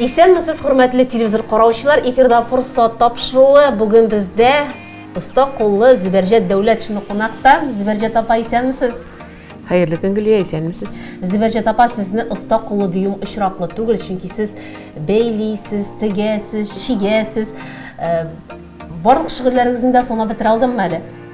Исәнмесез, хөрмәтле телевизор караучылар! Эфирда форсат тапшыруы. Бүген бездә оста куллы Зөбәрҗәт Дәүләт шуны кунакта. Зөбәрҗәт апа, исәнмесез! Хәерле көн, Гөлия, исәнмесез. Зөбәрҗәт апа, сезне оста кулы дюйм очраклы түгел, чөнки сез бәйлисез, тегәсез, чигәсез. Э, барлык шигырьләрегезне дә санап бетерә алдыммы әле?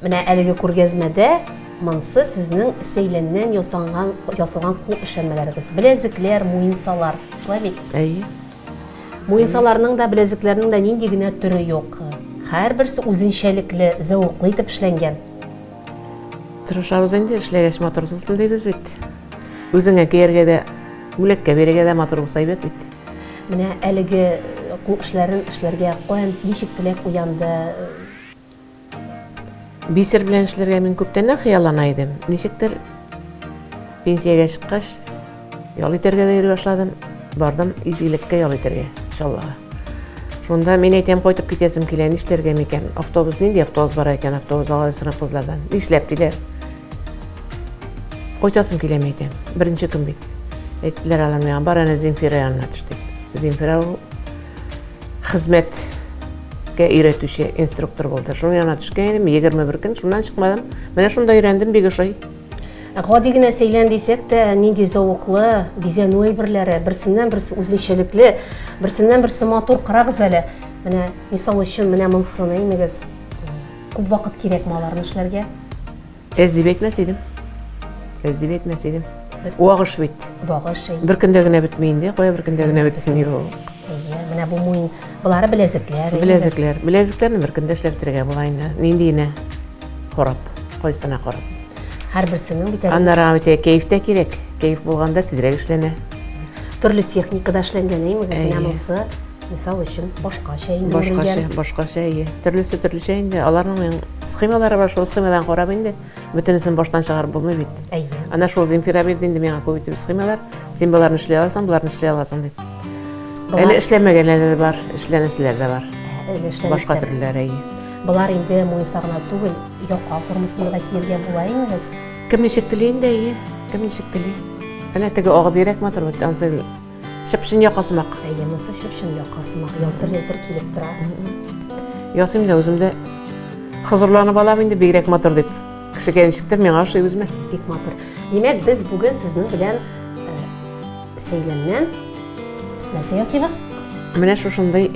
Менә әлеге күргәзмәдә монсы сезнең сәйләннән ясалган ясалган кул эшләнмәләрегез. Беләзекләр, муенсалар. Шулай бит? Әйе. Муенсаларның да, беләзекләрнең дә нинди генә төре юк. Һәрберсе үзенчәлекле, зәвыклы итеп эшләнгән. Тырышабыз инде, эшләгәч матур булсын дибез бит. Үзеңә кияргә дә, бүләккә бирергә дә матур булса әйбәт бит. Менә әлеге кул эшләрен эшләргә каян ничек теләк уянды? Бисер белән эшләргә мин күптәннән хыяллана идем. Ничектер пенсиягә чыккач, Ял итәргә дә йөри башладым. Бардым изгилеккә ял итәргә, Чаллыга. Шунда мин әйтәм, кайтып китәсем килә, нишләргә микән? Автобус нинди автобус бар икән, автобус алай сорап кызлардан. Нишләп килә? Кайтасым килә, мин әйтәм. Беренче көн бит. Әйттеләр алар миңа, бар әнә Земфира янына төш дип. Земфира ул хезмәткә өйрәтүче инструктор булды. Шуның янына төшкән идем, 21 көн шуннан чыкмадым. Менә шунда өйрәндем, бик ошый. Гади генә сәйлән дисәк тә, нинди зәвыклы бизәнү әйберләре, берсеннән-берсе үзенчәлекле, берсеннән-берсе матур. Карагыз әле, менә мисал өчен, менә монсыны имегез. Күп вакыт кирәкме аларны эшләргә? Әз дип әйтмәс идем. Әз дип әйтмәс идем. Вагыш бит. Вагыш. Бер көндә генә бетми инде, кая бер көндә генә бетсен юк. Әйе, менә бу муен Болары беләзекләр. Беләзекләр. Беләзекләрне бер көндә эшләп бетерергә була инде. Нинди генә корап, кайсына корап. Һәрберсенең бит әле. Аннары бит кәеф тә кирәк. Кәеф булганда тизрәк эшләнә. Төрле техникада эшләнгән, әйме, менә монысы, мисал өчен, башкача инде. Башкача, башкача, әйе. Төрлесе төрлечә инде. Аларның схемалары бар, шул схемадан карап инде. Бөтенесен баштан чыгарып булмый бит. Әйе. Ана шул Земфира бирде инде миңа күп итеп схемалар. Син боларны эшли аласың, боларны эшли аласың дип. Әле эшләмәгәннәр дә бар, эшләнәселәр дә бар. Башка төрләр әйе. Болар инде муенса гына түгел, яка формасында да киергә була инде. Кем ничек тели инде әйе, кем ничек тели. Әнә теге агып йөрәк матур бит, ансы чыпшын якасымак. Әйе, монсы чыпшын якасымак, ялтыр-ялтыр килеп тора. Ясыйм да үзем дә хозурланып алам инде бигрәк матур дип. Кешегә ничектер миңа ошый үземә. Бик матур. Димәк, без бүген сезнең белән Сәйләннән нәрсә ясыйбыз? Менә шушындый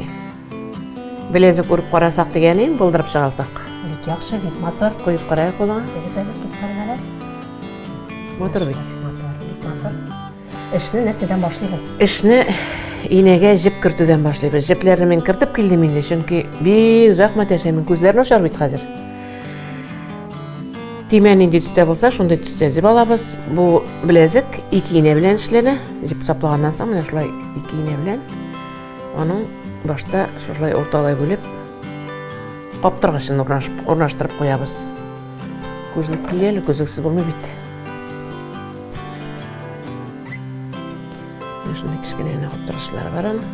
белезек урып карасак дигәне, булдырып чыгасак. Бик яхшы, бик матур. Куеп карайык болар. Әгез әле кызларга. Матур бит. Матур, бик матур. Эшне нәрсәдән башлыйбыз? Эшне инәгә җеп кертүдән башлыйбыз. Җепләрне мин кертеп килдем инде, чөнки бик озак мәтәшәмен. Күзләр начар бит хәзер. Төймә нинди төстә булса, шундый төстә җеп алабыз. Бу беләзек ике инә белән эшләнә. Җеп саплаганнан соң менә шулай ике инә белән аның башта шулай урталай бүлеп каптыргычын урнаштырып куябыз. Күзлек кияли, күзлексез булмый бит. Шундый кечкенә генә каптыргычлар бар аның.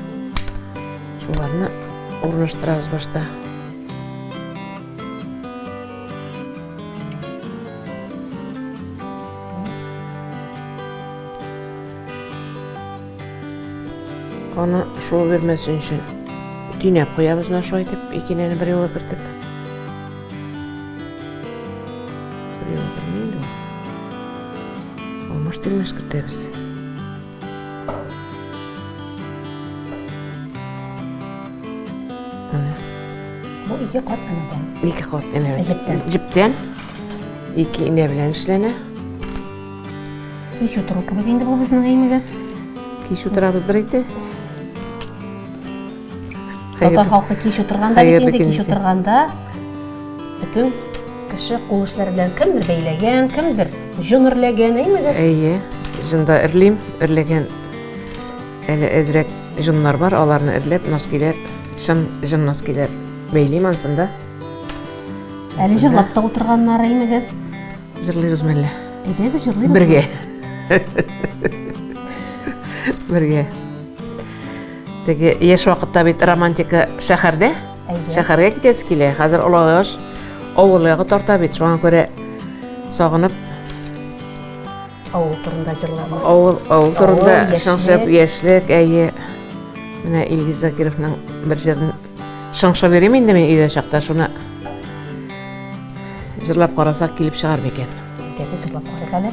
Шуларны урнаштырабыз башта. Аны шул бирмәсен өчен төйнәп куябыз мына шулай итеп, икенәне бер юлы кертеп. Бер юлы кермәйде ул. Алмаш тирмәш кертәбез. Менә. Бу ике кат энәдән. Ике кат энәдән. Җептән. Җептән. Ике энә белән эшләнә. Кич утыру кебек инде бу безнең өемегез. Кич утырабыздыр инде. Татар халкы кич утырганда бит инде кич утырганда бөтен кеше кул эшләре белән кемдер бәйләгән, кемдер җон эрләгән, әймәгез? Әйе, җонда эрлим, эрләгән әле әзрәк җоннар бар, аларны эрләп, носкиләр, чын җон носкиләр бәйлим ансында. Әле җырлап та утырганнар, әймәгез? Җырлыйбыз мәллә. Әйдәгез, җырлыйбыз. Бергә. Бергә. Теге яшь вакытта бит романтика шәһәрдә. Шәһәргә китәсе килә. Хәзер олыгыш авыл ягы тарта бит. Шуңа күрә сагынып авыл турында җырлама. Авыл, авыл турында шыңшып яшьлек, әйе. Менә Илгиз Закировның бер җырын шыңшып йөрим инде мин өйдә чакта шуны. Җырлап карасак килеп чыгар микән? Әйдәгез, җырлап карыйк әле.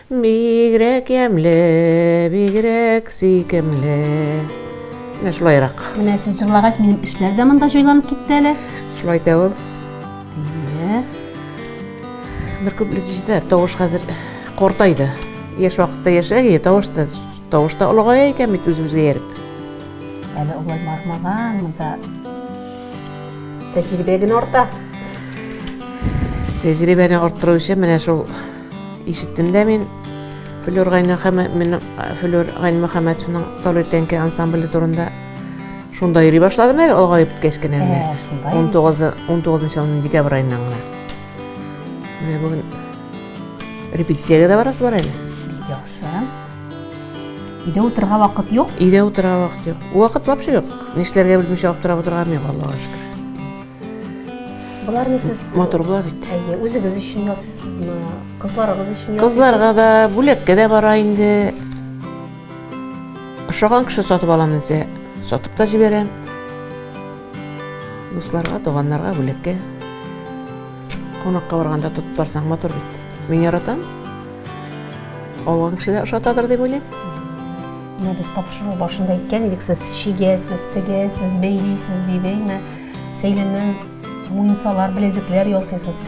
Бигрәк ямьле, бигрәк сөйкемле. Менә шулайрак. Менә сез җырлагач, минем эшләр дә монда җайланып китте әле. Шулай да ул. Әйе. Бер куплет җитәр, тавыш хәзер картайды. Яшь вакытта яшәгәе, тавыш та тавыш та олыгая икән бит үзебезгә ярып. Әле улай бармаган монда. Тәҗрибә генә арта. Тәҗрибәне арттыру өчен менә шул Ишеттем дә мин Флюр Гайнмөхәммәтовның Талый тәңке ансамбле турында. Шунда йөри башладым әле, олыгайып беткәч кенә менә. 19 19 елның декабрь айыннан гына. Менә бүген репетициягә дә барасы бар әле. Бик яхшы. Өйдә утырырга вакыт юк? Өйдә утырырга вакыт юк. Вакыт вообще юк. Нишләргә белмичә аптырап утырган мин, Аллага шөкер. Боларны сез матур була бит. Әйе, үзегез өчен ясыйсызмы? Кызларыгыз өчен ясыйсызмы? Кызларга да, бүләккә дә бара инде. Ошаган кеше сатып алам дисә, сатып та җибәрәм. Дусларга, туганнарга, бүләккә. Кунакка барганда тотып барсаң матур бит. Мин яратам. Алган кеше дә ошатадыр дип уйлыйм. Менә без тапшыру башында әйткән идек, сез чигәсез, тегәсез, бәйлисез дип, әйме? Сәйләннән муенсалар, беләзекләр ясыйсыз.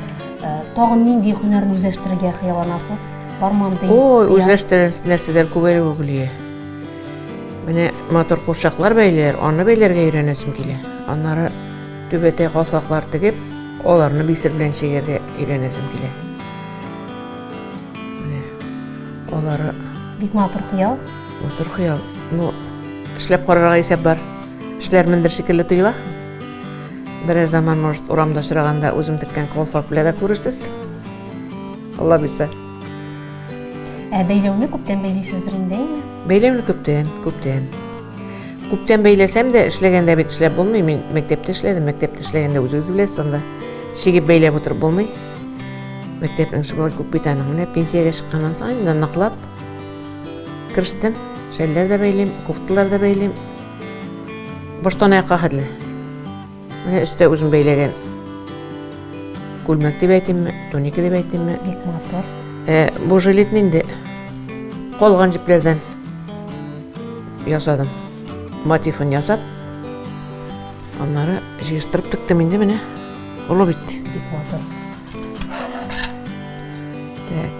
Э, тагын нинди һөнәрне үзләштерергә хыялланасыз? Бар монды. Ой, үзләштерер нәрсәләр күп әле бу гөлия. Менә мотор курчаклар бәйләр, аны бәйләргә өйрәнәсем килә. Аннары түбәтәй калфаклар тегеп, аларны бисер белән чигәргә өйрәнәсем килә. алары бик матур хыял матур хыял ну эшләп карарга исәп бар Эшләрмендер шикелле тоела. Берәр заман, может, урамда очраганда үзем теккән колфак белән дә күрерсез. Алла бирсә. Ә бәйләүне күптән бәйлисездер инде, әйме? Бәйләүне күптән, күптән. Күптән бәйләсәм дә, эшләгәндә бит эшләп булмый. Мин мәктәптә эшләдем, мәктәптә эшләгәндә үзегез беләсез анда. Чигеп бәйләп утырып булмый. Мәктәп эше болай күп бит аның. Менә пенсиягә чыкканнан соң инде ныклап керештем. Шәлләр дә бәйлим, кофталар да бәйлим. Баштан аякка хәтле. Менә өстә үзем бәйләгән күлмәк дип әйтимме, туника дип әйтимме. Бик матур. Ә, бу жилетны инде калган җепләрдән ясадым. Мотивын ясап, аннары җыештырып тектем инде менә. Олы бит. Бик матур. Так.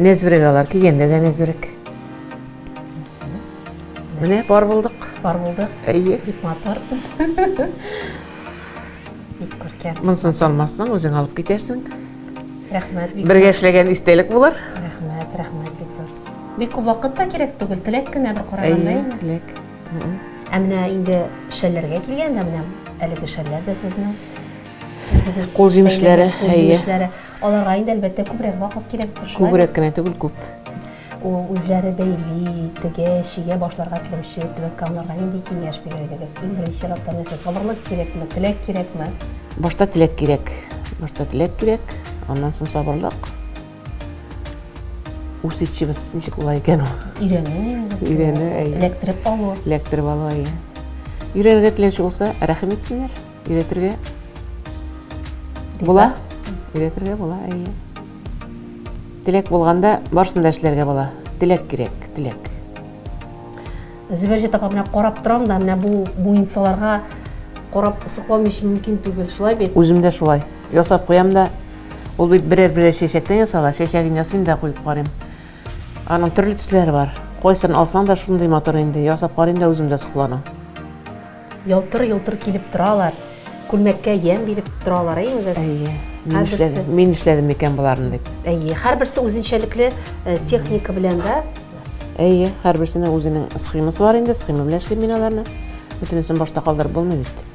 Нәзберек алар, кигәндә дә нәзберек. Менә пар булдык. Пар булдык. Әйе. Бик матур. Бик күркәм. Монсын салмассың, үзең алып китәрсең. Рәхмәт. Бергә эшләгән истәлек булыр. Рәхмәт, рәхмәт бик зур. Бик күп вакыт та кирәк түгел, теләк кенә бер караганда. Әйе, теләк. Ә менә инде шәлләргә килгәндә, менә әлеге шәлләр дә сезнең. Кул җимешләре, әйе. Аларга инде, әлбәттә, күбрәк вакыт кирәктер, шулай? Күбрәк кенә түгел, күп. Ул үзләре бәйли, тегә, чигә башларга теләүче Түбән Камаларга нинди киңәш бирер идегез? Иң беренче чиратта нәрсә, сабырлык кирәкме, теләк кирәкме? Башта теләк кирәк. Башта теләк кирәк, аннан соң сабырлык. Усидчивость ничек була икән ул? Өйрәнү инде. Өйрәнү, әйе. Эләктереп алу. Эләктереп алу, әйе. Өйрәнергә теләүче булса, рәхим итсеннәр. Өйрәтергә була. Өйрәтергә була, әйе. Теләк булганда барсын да эшләргә була. Теләк кирәк, теләк. Зөбәрҗәт апа менә карап торам да, менә бу муенсаларга карап соклану өчен мөмкин түгел, шулай бит? Үзем дә шулай. Ясап куям да. Ул бит берәр-берәр чәчәктән ясала, чәчәген ясыйм да куеп карыйм. Аның төрле төсләре бар. Кайсын алсаң да шундый матур инде. Ясап карыйм да үзем дә сокланам. Ялтыр-йолтыр килеп торалар, күлмәккә ямь биреп торалар, әйеме без? Әйе. Мин эшләдем, мин эшләдем микән боларны дип. Әйе, һәрберсе үзенчәлекле э, техника белән дә. Әйе, һәрберсенең үзенең схемасы бар инде, схема белән эшлим мин аларны. Бөтенесен башта калдырып булмый бит.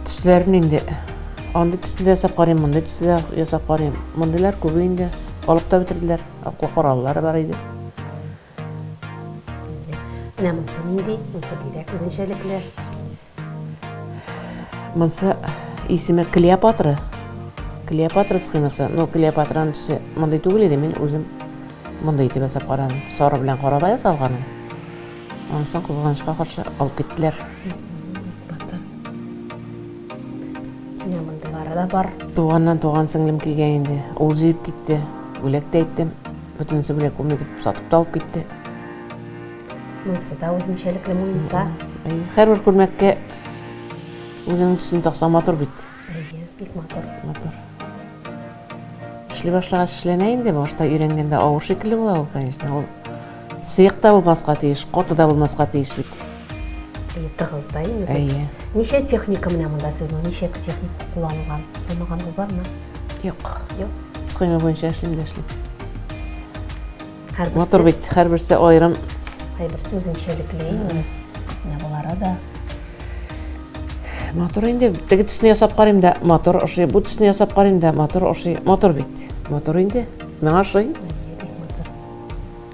Төсләрен инде андый төсле ясап карыйм, мондый төсле ясап карыйм. Мондыйлар күбе инде алып та бетерделәр. Аклы кораллары бар иде. Менә монсы нинди? Монсы бигрәк үзенчәлекле. Монсы исеме Клеопатра. Клеопатра схемасы. Но Клеопатраның төсе мондый түгел иде, мин үзем мондый итеп ясап карадым. Сары белән карада ясалган. Ансын кызганычка каршы алып киттеләр. Менә мондыйлары да бар. Туганнан туган сеңлем килгән инде. Ул җыеп китте. Бүләк тә әйттем. Бөтенесе белә күрми дип сатып та алып китте. Монысы да үзенчәлекле муенса. Һәрбер күлмәккә үзенең төсен таксаң матур бит. Әйе, бик матур. Матур. Эшли башлагач эшләнә инде, башта өйрәнгәндә авыр шикелле була ул, конечно. Ул сыек та булмаска тиеш, каты да булмаска тиеш бит. Тыгыз да инде. Әйе. Ничә техника менә монда сезнең? Ничә техника кулланылган? Санаганыгыз бармы? Юк. Юк. Схема буенча эшлим дә эшлим. Мотор бит, һәрберсе аерым. Һәрберсе үзенчәлекле инде. Менә болары да. Мотор инде теге төсне ясап карыйм да, мотор ошый. Бу төсне ясап карыйм да, мотор ошый. Мотор бит. Мотор инде. Миңа ошый.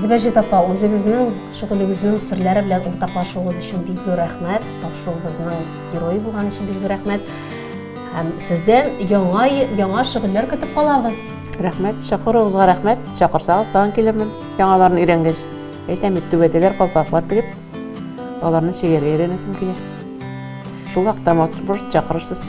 Зибәҗет апа, үзегезнең шөгылегезнең серләре белән уртаклашуыгыз өчен бик зур рәхмәт. Тапшыруыбызның герое булган өчен бик зур рәхмәт. Һәм сездән яңа яңа шөгыльләр көтеп калабыз. Рәхмәт, чакыруыгызга рәхмәт. Чакырсагыз, тагын килермен. Яңаларын өйрәнгәч, әйтәм бит, түбәтәләр, калфаклар тегеп, аларны чигәргә өйрәнәсем килә. Шул вакытта, может, чакырырсыз.